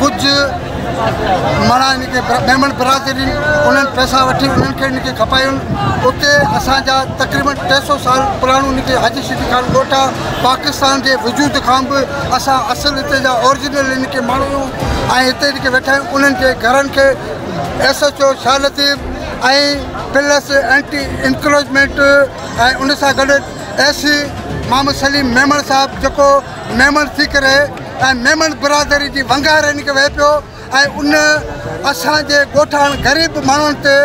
ڪجهه ماڻا هن کي ميمڻ برادري ڏني انهن پئسا وٺي انهن کي هن کي کپايون اتي اسان جا تقريبن ٽي سو سال پراڻو هن کي حاجي شفيع خان ڳوٺ آ پاڪستان جي وجود کان به اسان اصل هتي جا اورجنل هن کي ماڻهو آهيون ۽ هتي هن کي ويٺا آهيون انهن جي گهرن کي S H O Shah Latif ۽ plus anti encroachment ۽ ان سان گڏ ايس سي محمد سليم ميمڻ صاحب جيڪو ميمڻ سيڪري ۽ ميمڻ برادري جي ونگارين کي وهي پيو ۽ ان اسان جي ڳوٺاڻن غريب ماڻهن تي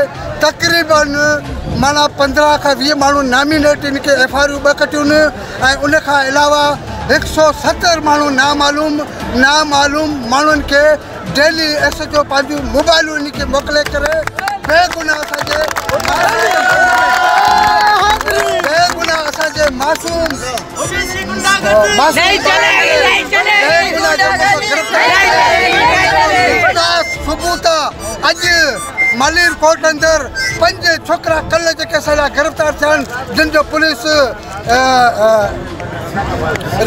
تقريباً معنيٰ پندرهن کان ويهه ماڻهن نامينيٽين کي ايف آر يون ٻه ڪٽيون ۽ ان کان علاوه هڪ سؤ ستر ماڻهن نامعلوم نامعلوم ماڻهن کي ڊيلي ايس ايچ او پنهنجون موبائلون انهن کي موڪلي ڪري بي گناهه اسان جي بي گناهه اسان جي معصوم ثبوت اڄ مالير ڪوٽ اندر پنج ڇوڪرا ڪل جيڪي اسان جا گرفتار ٿيا آهن جن جو پوليس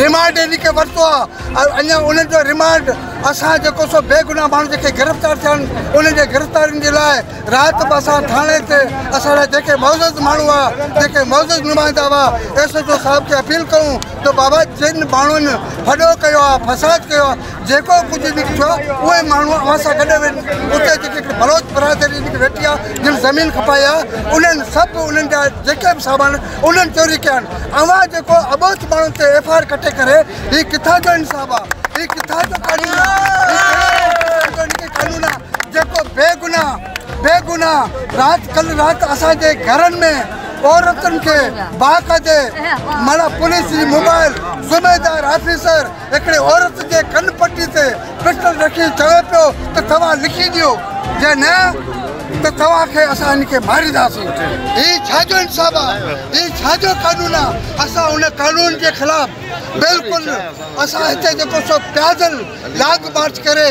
ريمانڊ انهن کي ورتو آهي ۽ اڃا انهن جو ريمانڊ اسان جيڪو سو بيگناهه ماڻهو جيڪي گرفتار ٿيا آهن انهن جي گرفتارين جي لاء رات به اسان ٿاڻي تي اسان لاء جيڪي معزز ماڻهو هئا جيڪي معزز نمائندا هئا ايس ايچ او صاحب کي اپيل ڪيون ته بابا جن ماڻهن ڦڏو ڪيو آهي فساد ڪيو آهي جيڪو ڪجهه به ٿيو آهي اهي ماڻهو اوهان سان گڏ وڃن اتي جيڪي هڪڙي بلوچ برادري جيڪي ويٺي آهي جن زمين کپائي آهي انهن سڀ انهن جا جيڪي به سامان انهن چوري ڪيا آهن اوهان جيڪو اٻوجهه ماڻهن تي ايف آء آر ڪٽي ڪري هي ڪٿان جو انصاف آ هي ڪٿان جو قانون آ هي ڪهڙي قسم جو قانون آ جيڪو بي گناھ بي گناھ رات ڪل رات اسان جي گهرن ۾ عورتن کي باقاعدي معنيٰ پوليس جي موبائل ذميدار آفيسر هڪڙي عورت جي ڪن پٽي تي پسٽل رکي چوي پيو ته توهان لکي ڏيو جي نه ته توهان کي اسان هن کي مارينداسين. هي ڇا جو انصاف آ؟ هي ڇا جو قانون آ؟ اسان ان قانون جي خلاف بلڪل اسان هتي جيڪو سو پيادل لانگ مارچ ڪري